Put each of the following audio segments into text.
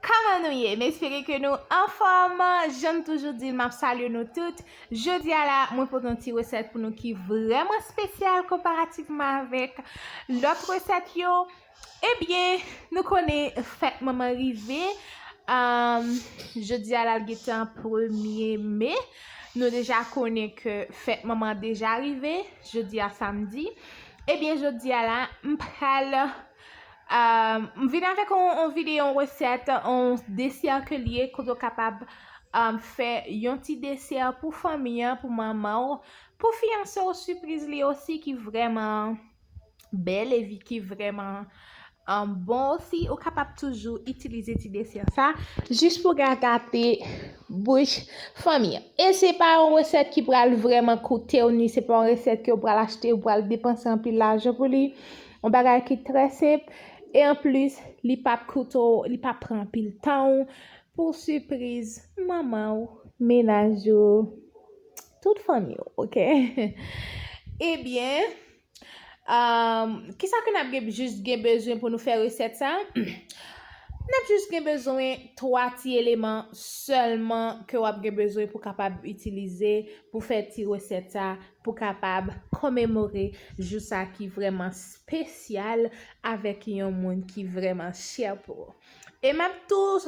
Kòman nou ye? M espere ke nou anfòm! Jan m toujou di l, m ap salye nou tout. Jodi a la, mwen pote yon ti resèt pou nou ki vrèman spesyal konparativman avèk lòt resèt yo. Ebyen, nou konnen fèt manman rive, jodi a la l gentan premye me, nou deja konnen ke fèt manman deja rive, jodi a samdi. Ebyen, jodi a la, m pral M vin avèk yon videyo, yon resèt, yon desè ke li ye kote ou kapab fè yon ti desè pou fanmi an, pou manman ou, pou fiyanse ou, sipriz li osi ki vrèman bèl e ki vrèman bon osi. Ou kapab toujou itilize ti desè sa jis pou ka gate bouch fanmi an. E se pa yon resèt ki pral vrèman koute ou ni se pa yon resèt ke ou pral achte, ou pral depanse anpil lajan pou li. On bagay ki trè senp e anplis li pap koute w, li pap pran anpil tan w pou sipriz manman w, menaj ou, tout fanmi w ok. Ebyen kisa ke n ap jis gen bezwen pou nou fè resèt sa? N ap jis gen bezwen 3 ti eleman sèlman ke w ap gen bezwen pou kapab itilize pou fè ti resèt sa. pou kapab komemore jou sa ki vrèman spesyal avèk yon moun ki vrèman chè pou ou. E map tou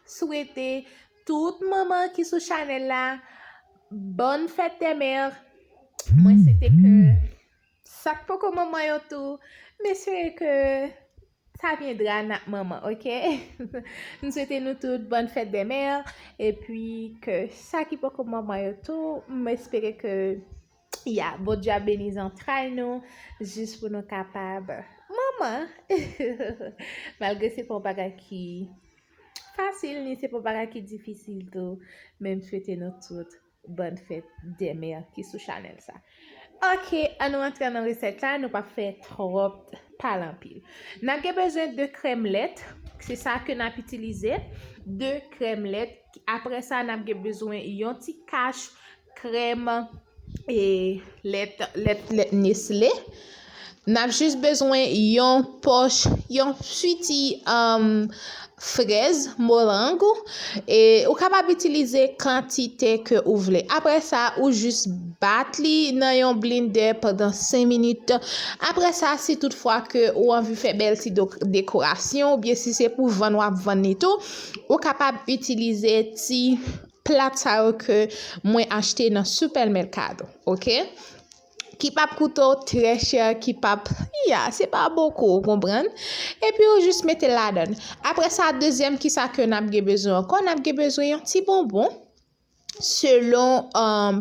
swete tout manman ki sou chanèl la Bonne fête des mères! Mwen swete ke sak poko manman yo tou, mwen swete ke Sa viendra nan moman ok m swete nou tout bonne fête des mères epi ke sa ki poko manman yo tou m espere ke ya Bondye ap beni zantray nou jis pou nou kapab manman malgre se pa yon bagay ki fasil ni se pa yon bagay ki difisil tou men m swete nou tout Bonne fête des mères ki sou chanèl sa. Ok an nou antre nan resèt la nou pap fè tròp pale anpil. Nap gen bezwen 2 krèm lèt se sa ke nap itilize 2 krèm lèt apre sa nap gen bezwen yon ti kach krèm e lèt lèt nesle N ap jis bezwen yon pòch, yon piti frèz, morang ou, e ou kapab itilize kantite ke ou vle. Apre sa, ou jis bat li nan yon blendè pandan 5 minit. Apre sa, si tout fwa ke ou anvi fè bèl ti dekorasyon, ou byen si se pou vann wap vann li tou, ou kapab itilize ti plat sa yo ke mwen achte nan Super Mercado. Ok? ki pap koute w trè chè, ki pap, ya, se pa bokou, ou konprann? Epi ou jis mete l ladan l. Apre sa, dezyèm ki sa ke n ap gen bezwen ankò, n ap gen bezwen yon ti bonbon, selon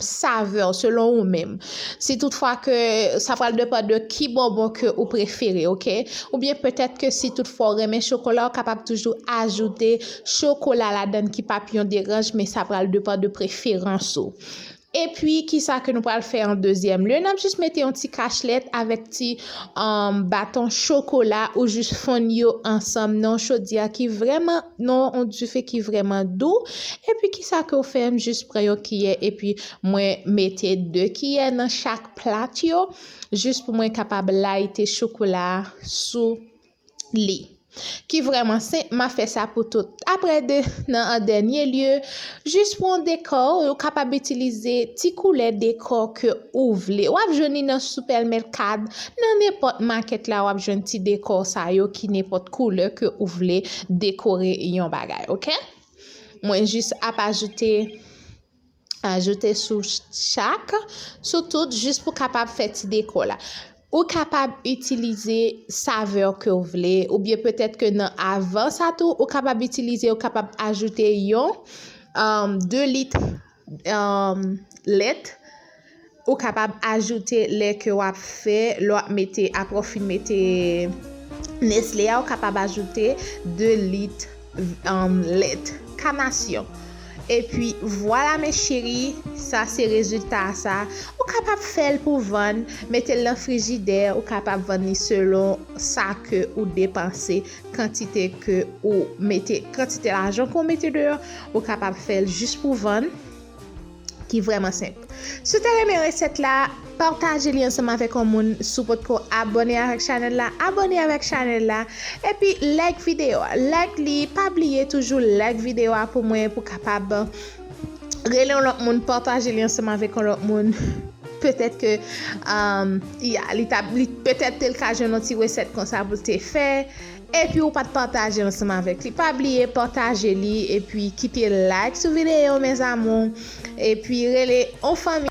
savè w, selon ou menm. Si tout fwa ke, sa pral depann de ki bonbon ke ou prefere, ok? Ou byen petèt ke si tout fwa ou renmen chokola, ou kapab toujou ajoute chokola ladan l ki pap yon deranj, men sa pral depann de preferans ou. Epi kisa ke nou pral fè an dezyèm lye? Nap jis mete yon ti kachlèt avèk ti baton chokola ou jis fonn yo ansanm nan yon chodyè ki vrèman, nan yon dife ki vrèman dou. Epi kisa ke ou fè? M jis pran yon kiyè epi mwen mete 2 kiyè nan chak plat yo jis pou mwen kapab layite chokola sou. Li. Ki vrèman sen, m a fè sa pou tout. Apre de, nan an dènye lye, jis pou yon dekò, ou kapab itilize ti koulè dekò ke ou vle. W ap jwenn li nan sipèlmèkad, nan nenpòt makèt la w ap jwenn ti dekò sa yo ki nenpòt koulè ke ou vle dekore yon bagay, ok. Mwen jis ap ajoute. ajoute sou chak, sou tout jis pou kapab fè ti deko la. Ou kapab itilize savè ke ou vle, ou byen petèt ke nan avan sa tou, ou kapab itilize, ou kapab ajoute yon 2 lit lèt, Ou kapab ajoute lè ke wap fè, lè wap mete, apre ou fin mete Nestlé a ou kapab ajoute 2 lit lèt kanasyon. Epi vwala mes cherie, sa se rezilta a sa. Ou kapab fèl pou vann, metel nan frijidè, ou kapab vann li selon sa ke ou depanse, kantite ke ou mete, kantite lajan ke ou mete deyò, ou kapab fèl jis pou vann. ki vrèman senp. Si w te renmen resèt la, pataje li ansanm avèk yon moun, si w potko abòne avèk chanèl la, abòne avèk chanèl la, epi like videyo a, like li, pa bliye toujou like videyo a pou mwen pou kapab rele yon lòt moun, pataje li ansanm avèk yon lòt moun, petèt ke ya, li ta, petèt tel ka jwenn yon ti resèt konsa pou l te fè. Epi ou pat pataje ansanm avèk li pa bliye pataje li epi kite like sou video mes amours epi rele on fanmi.